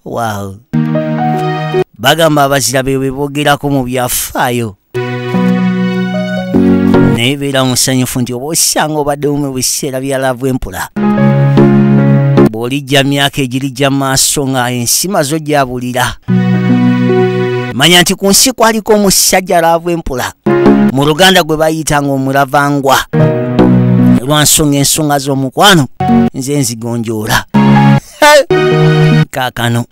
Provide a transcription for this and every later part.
wow bagamba abazira be bebogerako mu byafaayo naye beera musanyufu nti oba osanga obadde mu biseera bya laavu empula bw'olijja myaka egirijja maaso nga ensi mazo gyabulira manya nti ku nsi kwaliko omusajja laavu empula mu luganda gwe bayitanga omulavangwa lwansonga ensonga z'omukwano nze nzigonjoola kaakano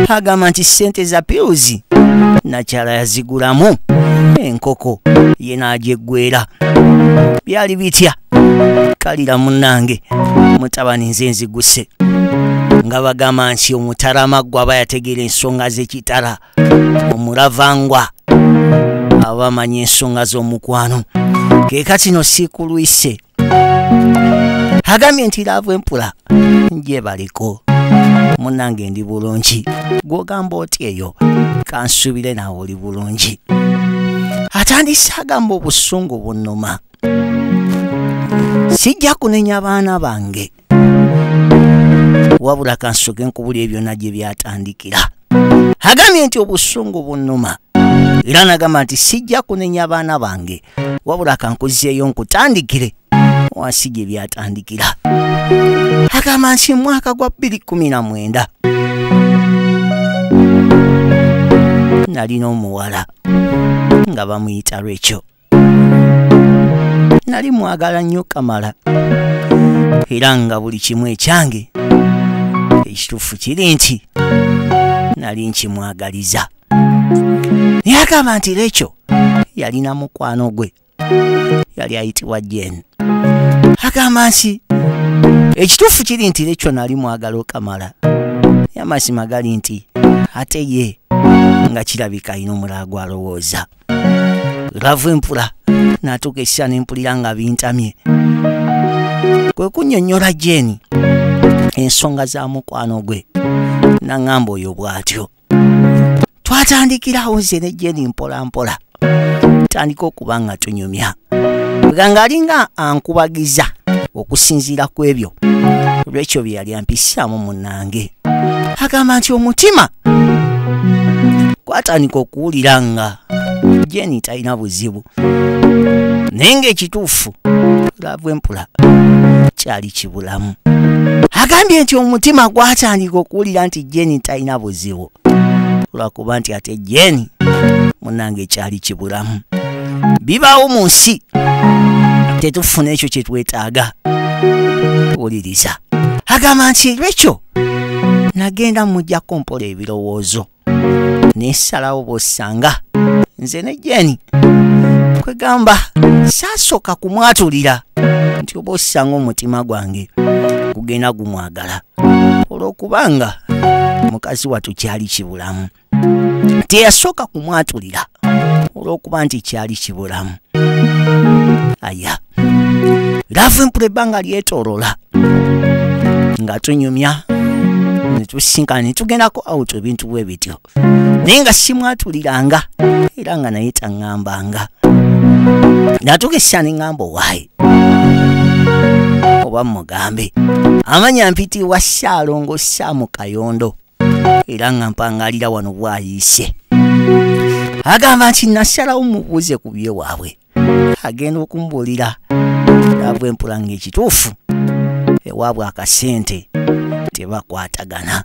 agamba nti ssente za piuzi nakyala yazigulamu enkoko ye n'agyeggwera byali bitya kalira munnange mutabani nze nziguse nga bagamba nti omutarama gwe aba yategeera ensonga z'ekitala omuravangwa aba amanyi ensonga z'omukwano kekatino siikulwise agambye nti laavu empula gyebaliko munange ndi bulungi gwogamba oti eyo kansubire nawe oli bulungi atandise agamba obusungu bunuma sijja kunenya baana bange wabula kansoke nkubuli ebyona gye byatandikira agambye nti obusungu bunuma era nagamba nti sijja kunenya abaana bange wabula kankuzeeyo nkutandikire wansi gye byatandikira agamba nti mwaka gwa 219 nalina omuwala nga bamuyita lwekyo nali mwagala nnyo kamala era nga buli kimu ekyange ekituufu kiri nti nali nkimwagaliza yagamba nti lekyo yalina mukwano gwe yali ayitibwa jen agamba nti ekituufu kiri nti lekyo nali mwagala okamala yamazima gali nti ate ye nga kirabika alina omulala gwalowooza lava empula natuuka ekisa nempulira nga bintamye kwe kunyonyola jeeni ensonga za mukwano gwe naŋamba oyo bw'atyo twatandikirawo nze ne jeeni mpolampola tandika okuba nga tunyumya nga ng'alinga ankubagiza okusinziira ku ebyo olw'ekyo bye yali ampisaamu munange agamba nti omutima kwatandika okuwulira nga jeni talina buzibu naye ng'ekituufu laavu empula kyali kibulamu agambye nti omutima gwatandika okuwulira nti jeni talina buzibu lwakuba nti ate jeni munange ekyali kibulamu bibaawo mu nsi tetufuna ekyo kyetwetaaga wuliriza agamba nti lwekyo nagenda mujja kumpola ebirowoozo nesalawo bwosanga nze ne jeni kwegamba saasooka kumwatulira nti oba osanga omutima gwange gugenda gumwagala olw'okubanga mukazi watu kyali kibulamu teyasooka kumwatulira olw'okuba nti kyali kibulamu aya laavu empula ebbanga lyetolola nga tunyumya netusinkana netugendako awutu ebintu bwe bityo naye nga simwatuliranga era nga naye taŋŋambanga natuka essya ne ŋŋamba owaayi oba mugambe amanya mpitiibwa ssaalongo ssaamu kayondo era nga mpangalira wano bwayiise agamba nti nasalawo mubuuze ku bye waabwe agenda okumbuulira ava empula ng'ekituufu ewaabwe akasente tebakwatagana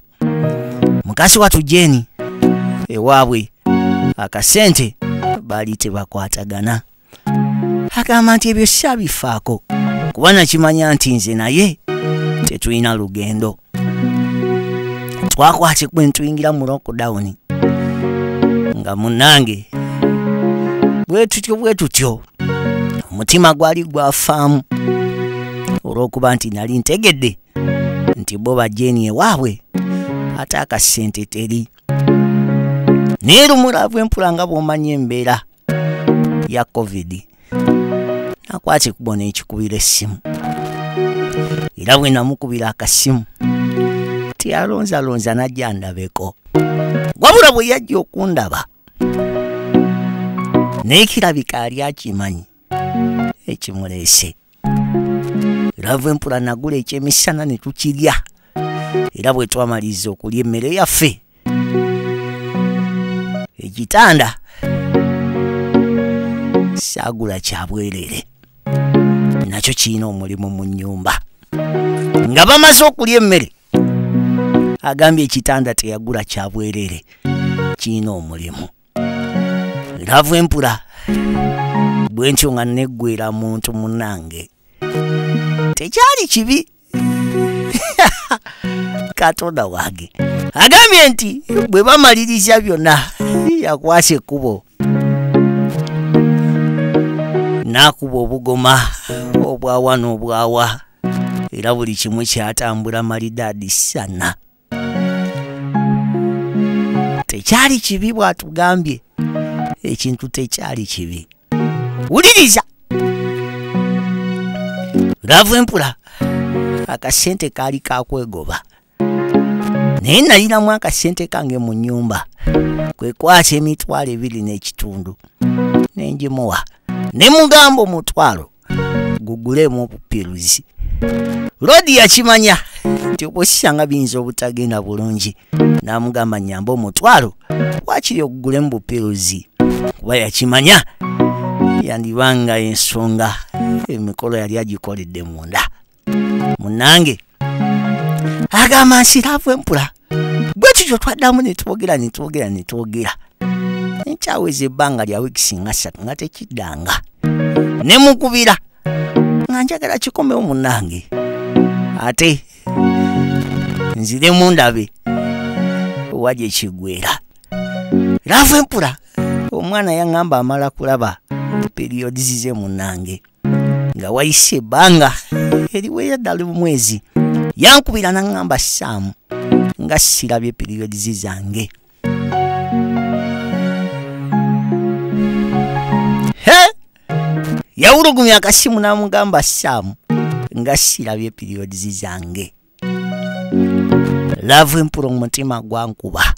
mukasi watu jeni ewaabwe akasente baali tebakwatagana agamba nti ebyo sabifaako kuba nakimanya nti nze naye tetulina lugendo twakwate kwe ntuyingira mu lockdown nga munange bwe tutyo bwe tutyo omutima gwali gwafaamu olw'okuba nti nali ntegedde nti bo bajeni ewaabwe ate akasente teri naye lumulavu empula nga bw'omanya embeera ya covid nakwata ekubo n'ekikubira essimu era bwe namukubira akasimu teyalonzalonza najja ndabeko wabula bwe yajja okundaba naye kirabika ali akimanyi ekimuleese lava empula nagula ekyemisana ne tukirya era bwe twamaliriza okulya emmere yaffe ekitanda saagula kya bwereere nakyo kirina omulimu mu nnyumba nga bamaze okulya emmere agambye ekitanda teyagula kya bwereere kirina omulimu laavu empula bwe ntyo nga nneggwera muntu munange tekyali kibi katonda wange agambye nti bwe bamaliriza byonna yakwasa ekkubo n'akuba obugoma obwawa n'obwawa era buli kimu kyatambula malidaadi sana tekyali kibi bw'atugambye ekintu tekyali kibi wuliriza laavu empula akasente kaali kakwegoba naye nalinamu akasente kange mu nnyumba kwe kwasa emitwalo ebiri n'ekitundu ne ngimuwa ne mugamba omutwalo gugulemu obupiruzi lodi yakimanya nti obwosisanga biyinza obutagenda bulungi n'amugamba nyamba omutwalo wakiri ogugulemu bupiruzi kuba yakimanya yandibanga ensonga emikolo yali agikoledde munda munange agamba nsiraavu empula bwe kityo twaddamu ne twogera ne twogera ne twogera nkyaweza ebbanga lya wiikisi nga ssatu nga tekiddanga ne mukubira nga njagala kikomewo munange ate nzire mundabe wali ekigwera laavu empula omwana yaŋŋamba amala kulaba periyodizize munange nga wayise ebbanga eriweera ddala omwezi yankubira naŋŋamba saamu nga sirabye periods zange he yawulugumya akasimu n'amugamba saamu nga sirabye periods zange laavu empula omutima gwankuba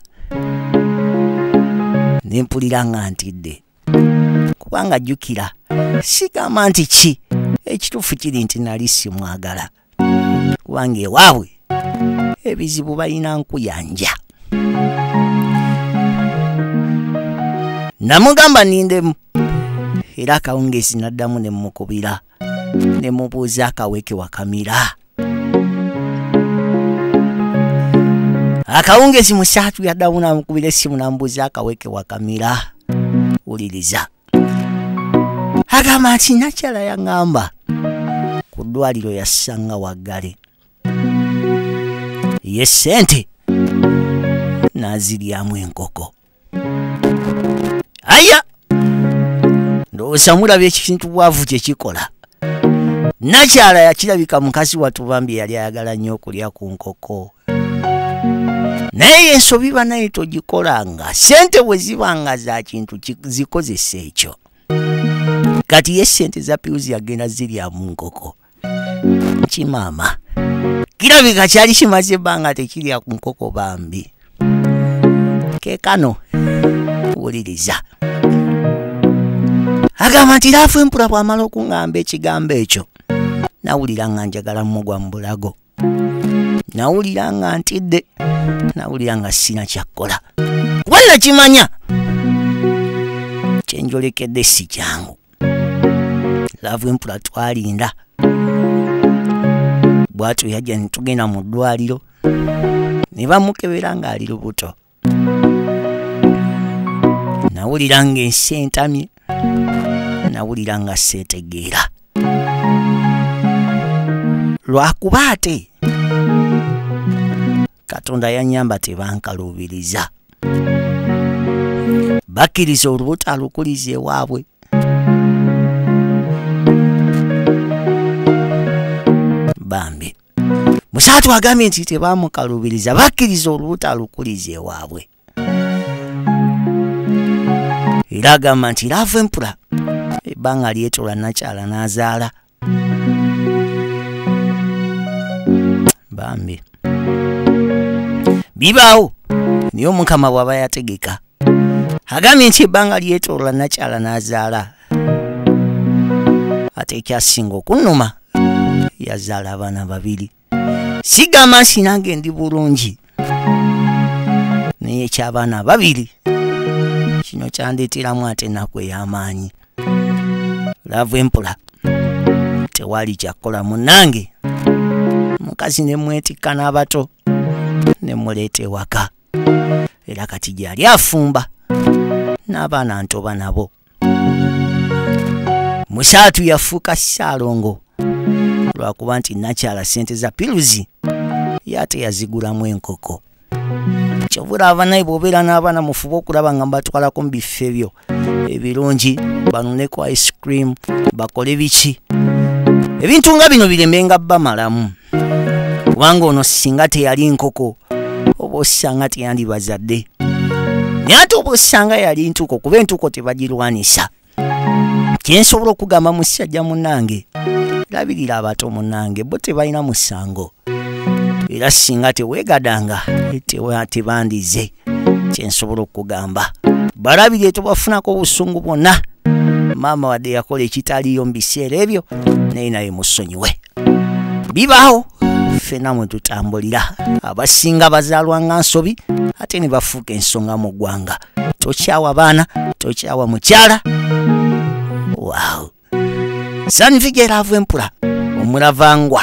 ne mpulira nga ntidde kubanga jjukira sigamba nti ki ekituufu kiri nti nali simwagala kubanga ewaabwe ebizibu balina nkuyanja namugamba nindemu era akawungeezi naddamu ne mukubira ne mubuuza akaweke wakamira akawungezi musaatu yaddamu namukubira essimu namubuuza akaweke wakamira wuliriza agamba nti nakyala yaŋŋamba ku ddwaliro yassanga waggale ye ssente n'aziryamu enkoko aya ndowooza mulaba ekintu bwavu kyekikola nakyala yakirabika mukazi watu bambi yali ayagala nnyo okulya ku nkoko naye ensobi banaye togikolanga sente bwe ziba nga za kintu zikozesa ekyo kati ye sente za piuzi yagenda zirya mu nkoko kimama kirabika kyali kimaze ebbanga tekirya ku nkoko bambi kekano wuliriza agamba nti laafu empula bw'amala okuŋŋamba ekigambo ekyo nawulira nga njagala mugwa mu bulago nawulira nga ntidde nawulira nga sina kyakkola kuba nakimanya kyenjolekedde si kyangu laavu empula twalinda bwatyo yajja ne tugenda mu ddwaliro ne bamukebera ng'ali lubuto nawulira ng'ensi entamye nawulira nga seetegeera lwakuba ate katonda yanyamba tebankaluubiriza bakkiriza olubuto alukuliza ewaabwe bambi musaatu agambye nti tebamukaluubiriza bakkiriza olubuto alukuliza ewaabwe era agamba nti laavu empula ebbanga lyetola nakyala n'azaala bambi bibaawo naye omukama bw'aba yategeka agambye nti ebbanga lyetoola nakyala n'azaala ate ekyasinga okunnuma yazaala abaana babiri sigamba nsi nange ndi bulungi naye ekyabaana babiri kino kyandeeteramu ate ennaku ey'amaanyi laavu empola tewali kyakukola munnange mukazi ne mwetikka n'abato ne muleeta ewaka era kati gyeyali afumba n'abaana ntoba nabo musaatu yafuuka ssaalongo lwakuba nti nakyala sente za piluzi yate yazigulamu enkoko kyovula abanaye bwobeera n'abaana mufuba okulaba nga mbatwalako mu bifo ebyo ebirungi banuneko ice cream bakole biki ebintu nga bino biremenga bamalamu kubanga ono singa teyali nkoko oba osanga teyandibazadde naye ate oba osanga yali ntuko kuba entuko tebagirwanisa kyensobola okugamba musajja munange labirira abato munange bo tebalina musango era singa tewegadanga tebandize kyensobola okugamba balabirye tobafunako obusungu bwonna maama wadde yakola ekitaliyo mu biseera ebyo naye naye musonyiwe bibaawo ffena mwe tutambulira abasinga bazaalwa nga nsobi ate ne bafuuka ensonga mu ggwanga tokyawa baana tokyawa mukyala waw sanvigeraavu empula omulavangwa